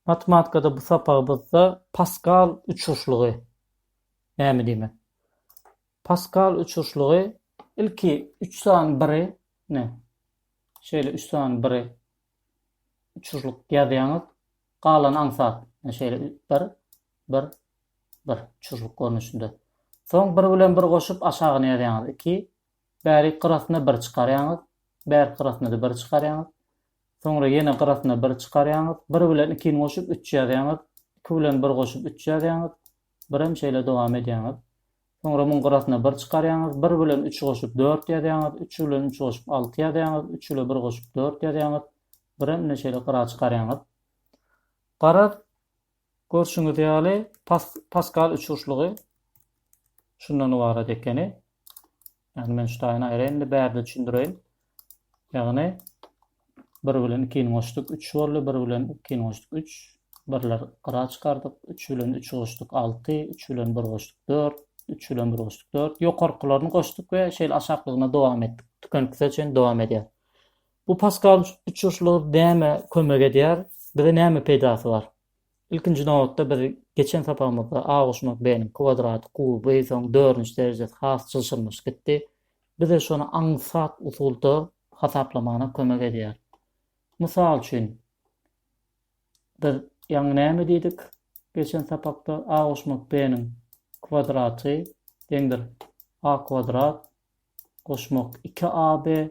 Matematikada bu sapagymyzda Paskal uçuşlygy näme diýmek? Paskal uçuşlygy ilki üç sany biri, ine, şeýle üç sany biri uçuşlyk ýazýaňyz, galany aňsat, ine şeýle bir, bir, bir uçuşlyk görnüşinde. Soň bir bilen bir goşup aşagyny ýazýaňyz, iki, Bärik gyrasyna bir çykarýaňyz, bärki gyrasyna-da bir çykarýaňyz. Soňra ýene gyrasyna bir çykarýaňyz. Bir bilen ikini goşup üç ýazýaňyz. Iki bilen bir goşup üç ýazýaňyz. Birem şeýle dowam edýäňiz. Soňra muň gyrasyna bir çykarýaňyz. Bir bilen üçi goşup dört ýazýaňyz. Üç bilen üçi goşup alty ýazýaňyz. Üç ile bir goşup dört ýazýaňyz. Birem ine şeýle gyra çykarýaňyz. Garaz, Görşüňiz ýaly, Paskal üçburçlugy şundan ybarat ekeni. Ýagny men şu taýyny aýraýyn indi bärde düşündireýin. Ýagny bir bilen ikini goşduk, üç boldy, bir bilen ikini goşduk, üç, birler gyra çykardyk, üç bilen üçi goşduk, alty, üç bilen bir goşduk, dört, üç bilen bir goşduk, dört, ýokarkylaryny goşduk we şeýle aşaklygyna dowam etdik. Tükeniksize çenli dowam edýär. Bu paskal uçuşlygy nämä kömek edýär? Bize näme peýdasy bar? Ilkinji nobatda biz geçen sapagymyzda Aguşmak B-niň kwadraty, kuby, soň dördünji derejesi has çylşyrymyş gitdi. Bize şony aňsat usulda hasaplamana kömek edýär. Mysal üçin, biz ýaňy näme diýdik geçen sapakda? Aguşmak B-niň kwadraty deňdir A kwadrat goşmak iki AB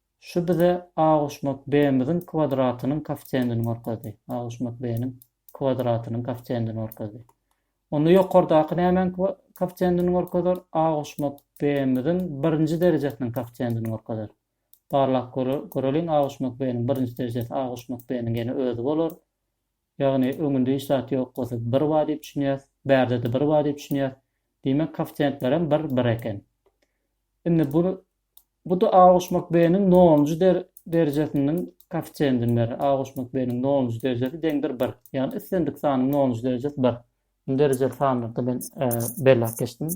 Şu bize a goşmak b-miziň kwadratynyň kofisiýendini görkezdi. A goşmak b-niň kwadratynyň kofisiýendini görkezdi. Onda ýokardaky nämäň kofisiýendini görkezer? A goşmak b-miziň birinji derejesiniň kofisiýendini görkezer. Barlap göreliň, a goşmak b-niň birinji derejesi a goşmak b-niň ýene özi bolar. Ýagny öňünde hiç zat ýok bolsa bir bar diýip düşünýäs. Bärde-de bir bar diýip düşünýäs. Diýmek, kofisiýentlerem bir, bir eken. Indi bu Bu da A goşmak B-niň nolunjy derejesiniň koeffisiýentini berer. A goşmak B-niň nolunjy derejesi deňdir bir. Ýagny islendik sanyň nolunjy derejesi bir. Indi derejeli sanlarda men belläp geçdim.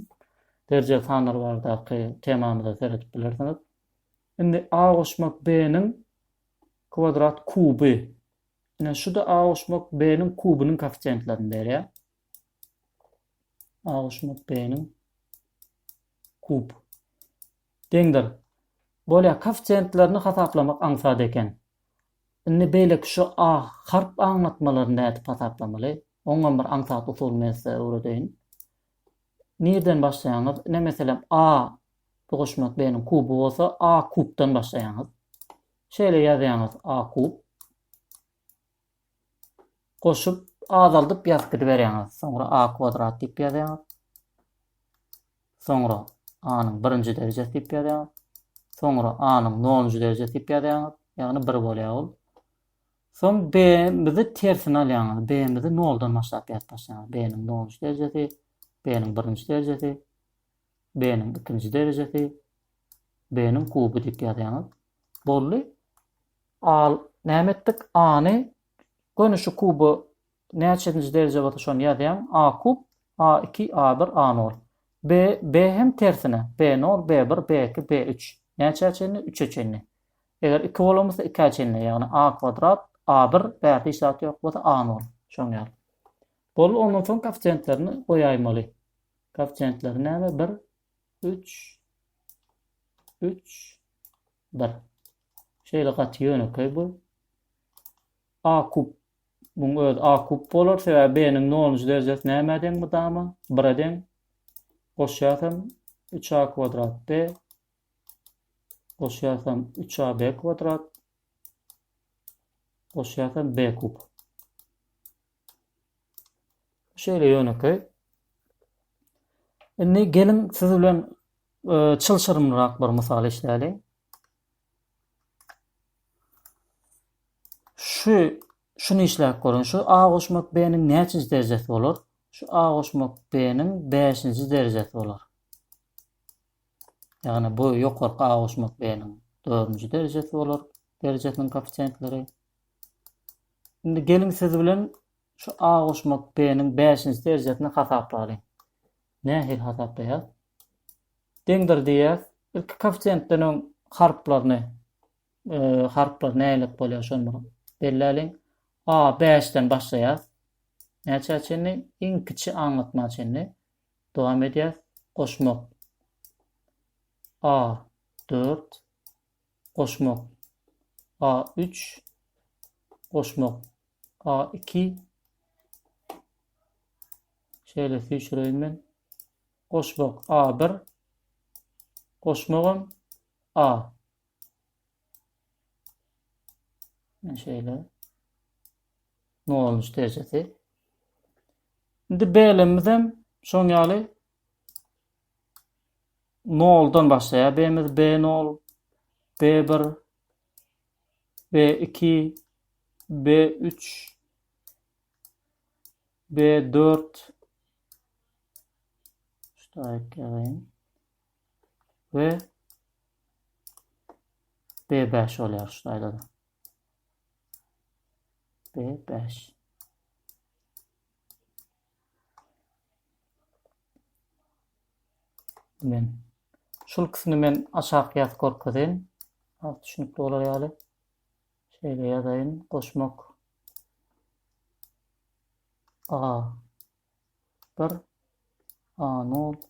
Derejeli sanlar baradaky temamyza seredip bilersiňiz. Indi A goşmak B-niň kwadrat kuby. Ine şu da A goşmak B-niň kubynyň koeffisiýentlerini berýär. A goşmak B-niň kub deňdir. Bolýar, koeffisiýentlerini hasaplamak aňsat eken. Indi beýleki şu A harp aňlatmalaryny nädip hasaplamaly? Oňam bir aňsat usuly men size öwredeýin. Nireden başlaýaňyz? Ine meselem A goşmak B-niň kuby bolsa A kubdan başlaýaňyz. Şeýle ýazýaňyz A kub. Goşup azaldyp ýazyp gidiberýäňiz. Soňra a kwadrat diýip ýazýaňyz. Soňra a-nyň birinji derejesi diýip ýazýaňyz. Soňra a-nyň nolunjy derejesi diýip ýazýaňyz. Ýagny bir bolýar ol. Soň b-mizi tersine alýaňyz. B-mizi noldan başlap ýazyp başlaýaňyz. B-niň nolunjy derejesi, b-niň birinji derejesi, b-niň ikinji derejesi, b-niň kuby diýip ýazýaňyz. Boldy. Al, näme etdik? A-ny göni şu kuba näçenji derje bolsa şony ýazýaň, A kub, A iki, A bir, A nol. B, B hem tersine, B nol, B bir, B iki, B üç. Näçä çenli? Üçe çenli. Eger iki bolan bolsa ikä çenli, ýagny A kwadrat, A bir, bärde hiç zat ýok bolsa A nol. Şoň ýaly. Boldy, ondan soň kofisiýentlerini goýaýmaly. Kofisiýentleri näme? Bir, üç, üç, bir. Şeýle gaty ýönekeý bu. A kub muň öz A kub bolar, sebäbi B-niň nolunjy derejesi nämä deň mydama? Bire deň. Goşýarsam 3A kwadrat B. Goşýarsam 3AB kwadrat. Goşýarsam B kub. Şeýle ýönekeý. Indi geliň siz bilen e, çylşyrymrak bir mysal işläli. Şu şuny işläp görün. Şu A goşmak B-niň näçinji derejesi bolar? Şu A goşmak B-niň 5-nji derejesi bolar. Ýagny bu ýokarky A goşmak B-niň 4-nji derejesi bolar. Derejesiniň koeffisiýentleri Indi geliň siz bilen şu A goşmak B-niň bäşinji derjesini hasaplalyň. Nähili hasaplaýas? Deňdir diýýäs. Ilki koeffisiýentden öň harplaryny e, harplar nälet bolýar şony belläliň. A 5 den başlaýas. Näçe çenli? Iň kiçi aňlatma çenli. Dowam edýäs. Goşmak. A 4 goşmak a üç goşmak a iki şeýle süýşüreýin men goşmak a bir goşmagam a men şeýle nolunç derejesi indi belemizem şoň ýaly Noldan başlaýar B-miz, B-nol, B-bir, B-iki, B-üç, B-dört, Ştaýk ýazaýyn. We B5 bolýar şu taýda. B5. Men şul ikisini men aşak ýazyp görkezin. Az düşünüp bolar ýaly. Şeýle ýazaýyn. Goşmak. A. 1 A 0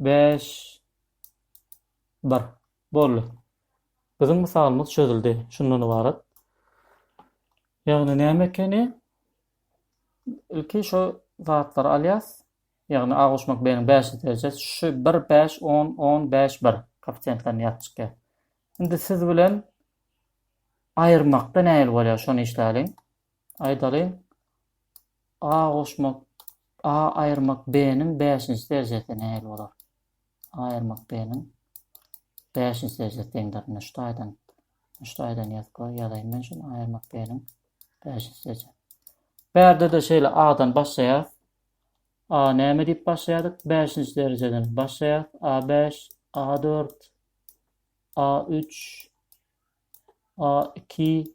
Bäş. Bir. Boldy. Biziň mysalymyz çözüldi. Şundan ybarat. Ýagny näme ekeni? Ilki şu zatlary alýas. Ýagny A goşmak B-niň bäşinji derejesi. Şu bir, bäş, on, on, bäş, bir. Koeffisiýentlerini ýazyp çykýar. Indi siz bilen aýyrmakda nähili bolýar, şony işläliň. Aýdaly, A goşmak A aýyrmak B-niň bäşinji derjesi nähili bolar? A aýyrmak B-niň bäşinji derjesi deňdir. Indi şu taýdan, şu taýdan ýazyp goý, ýazaýyn men şuny A aýyrmak B-niň bäşinji derjesi. Bärde-de şeýle A-dan başlaýar. A näme diýip başlaýardyk? Bäşinji derjeden başlaýar. A bäş, A dört, A üç, A iki,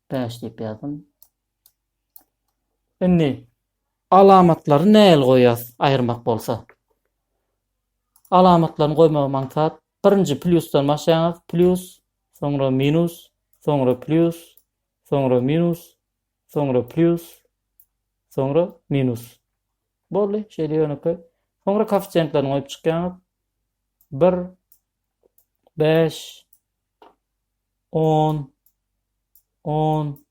Bäş diýip ýazdym. Indi alamatlary nähili goýýas aýyrmak bolsa. Alamatlaryny goýmagy maňsat birinji plýusdan başlaýaňyz plýus, soňra minus, soňra plýus, soňra minus, soňra plýus, soňra minus. Boldy, şeýle ýönekeý. Soňra koeffisiýentlerini goýup çykýaňyz. 1, Bäş, on, on,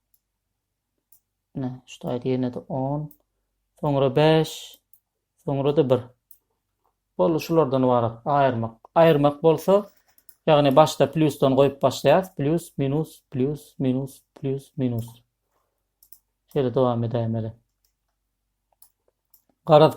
ne, şu taýda ýene-de on, soňra bäş, soňra-da bir. Boldy, şulardan ybarat aýyrmak. Aýyrmak bolsa, ýagny başda plusdan goýup başlaýas, plus, minus, plus, minus, plus, minus. Şeýle dowam edäýmeli. Garaz,